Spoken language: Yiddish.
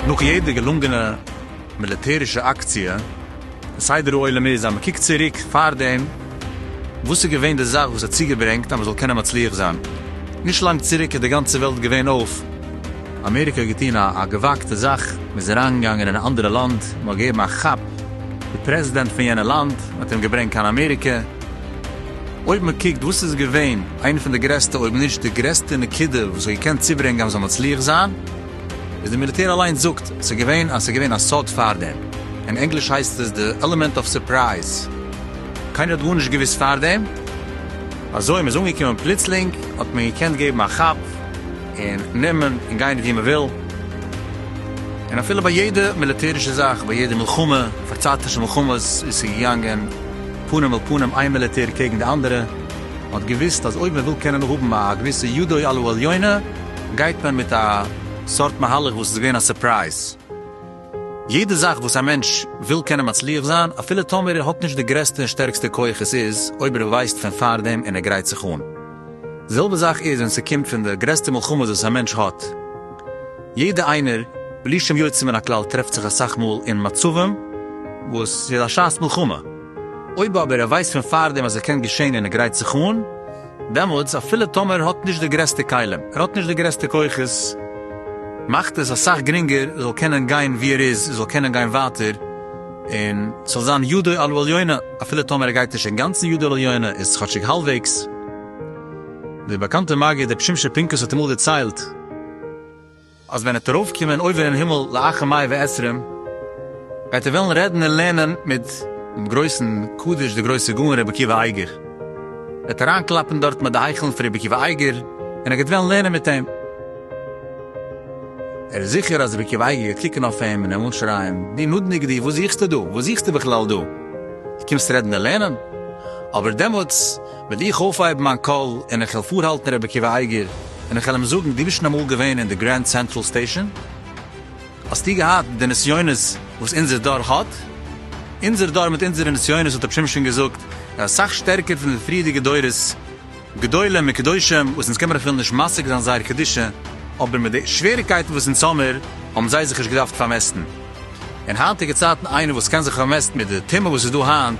נאך יעדע געלונגענע מיליטערישע אקציע, די סדר העולם איז אז מען קוקט צוריק פארדעם וואס איז געווען די זאך וואס האט צוגעברענגט אז מען זאל קענען מצליח זיין. נישט לאנג צוריק איז די גאנצע וועלט געווען אויף. אמעריקע האט געטון א געוואגטע זאך, מען איז אריינגעגאנגען אין א אנדערע לאנד, מען האט געגעבן א כאפ, די פרעזידענט פון יענע לאנד, מען האט אים געברענגט קיין אמעריקע. אויב מען קוקט וואס איז געווען איינע פון די גרעסטע אויב נישט די גרעסטע נקודה וואס האט געקענט צוברענגען אז מען זאל מצליח זיין. איז די מיליטער אליינס זאגט ס'איז געווען אז ס'איז געווען א סוד פארדעם, אין ענגליש הייסט עס די עלעמענט אוו סורפרייז, קיינער האט גארנישט געוויסט פארדעם, אזוי מ'איז אנגעקומען פלוצלינג האט מען געקענט געבן א כאפ און נעמען און גיין ווי מ'וויל, און אפילו ביי יעדע מיליטערישע זאך, ביי יעדע מלחמה, פארצייטישע מלחמות, איז ס'געגאנגען פנים אל פנים איין מיליטער קעגן די אנדערע, מ'האט געוויסט אז אויב מ'וויל קען מען האבן א געוויסע ידו על העליונה, גייט מען מיט א סארט מהלך וואס איז געווען א סורפרייז. יעדע זאך וואס א מענטש וויל קען ער מצליח זיין, אפילו טאמער ער האט נישט די גרעסטע און שטערקסטע כח, עס איז אויב ער ווייסט פון פארדעם און ער גרייט זיך אן. די זעלבע זאך איז ווען ס'קומט פון די גרעסטע מלחמות וואס א מענטש האט. יעדע איינער, בלי שום יוצא מן הכלל, טרעפט זיך אסאך מאל אין מצבים וואס ס'איז א שעת מלחמה. אויב אבער ער ווייסט פון פארדעם אז עס קען געשען און ער גרייט זיך אן, דעמאלטס אפילו טאמער ער האט נישט די גרעסטע כלים, ער האט נישט די גרעסטע כוחות, מאכט עס אסאך גרינגער ער זאל קענען גיין ווי ער איז, ער זאל קענען גיין ווייטער, און ס'זאל זיין ידו על העליונה, אפילו טאמער ער גייט נישט אינגאנצן ידו על העליונה, איז כאטשיג האלבוועגס. דער באקאנטער מגיד רבי שמשון פינקוס האט אמאל דערציילט, אז ווען ער וועט ארויפקומען אויבער אין הימל לאחר מאה ועשרים וועט ער וועלן רעדן און לערנען מיט דעם גרויסן קדוש דער גרויסער גאון רבי עקיבא אייגער וועט אריין קלאפן דארטן ביי די היכלן פון רבי עקיבא אייגער און ער גייט וועלן לערנען מיט אים. ער איז זיכער אז רבי עקיבא אייגער גייט קוקן אויף אים און אים אנשרייען דו נודניק דו וואס זוכסטו דא וואס זוכסטו בכלל דא דו קומסט רעדן און לערנען אבער דעמאלטס וועל איך אויפהייבן מיין קול און איך וועל פארהאלטן רבי עקיבא אייגער און איך וועל אים זאגן, דו ביסט שוין אמאל געווען אין די גרענד סענטראל סטעישאן? האסטו געהאט די נסיונות וואס אונזער דור האט? אונזער דור מיט אונזערע נסיונות האט רבי שמעון שוין געזאגט איז אסאך שטערקער פון די פריערדיגע דורות גדולים און קדושים וואס אונז קען מען אפילו נישט משיג זיין זייער קדושה, אבער מיט די שוועריקייטן וואס אונז האמיר האבן זיי זיך נישט געדארפט פארמעסטן אין היינטיגע צייטן, איינער וואס קען זיך פארמעסטן מיט די טומאה וואס איז דא היינט,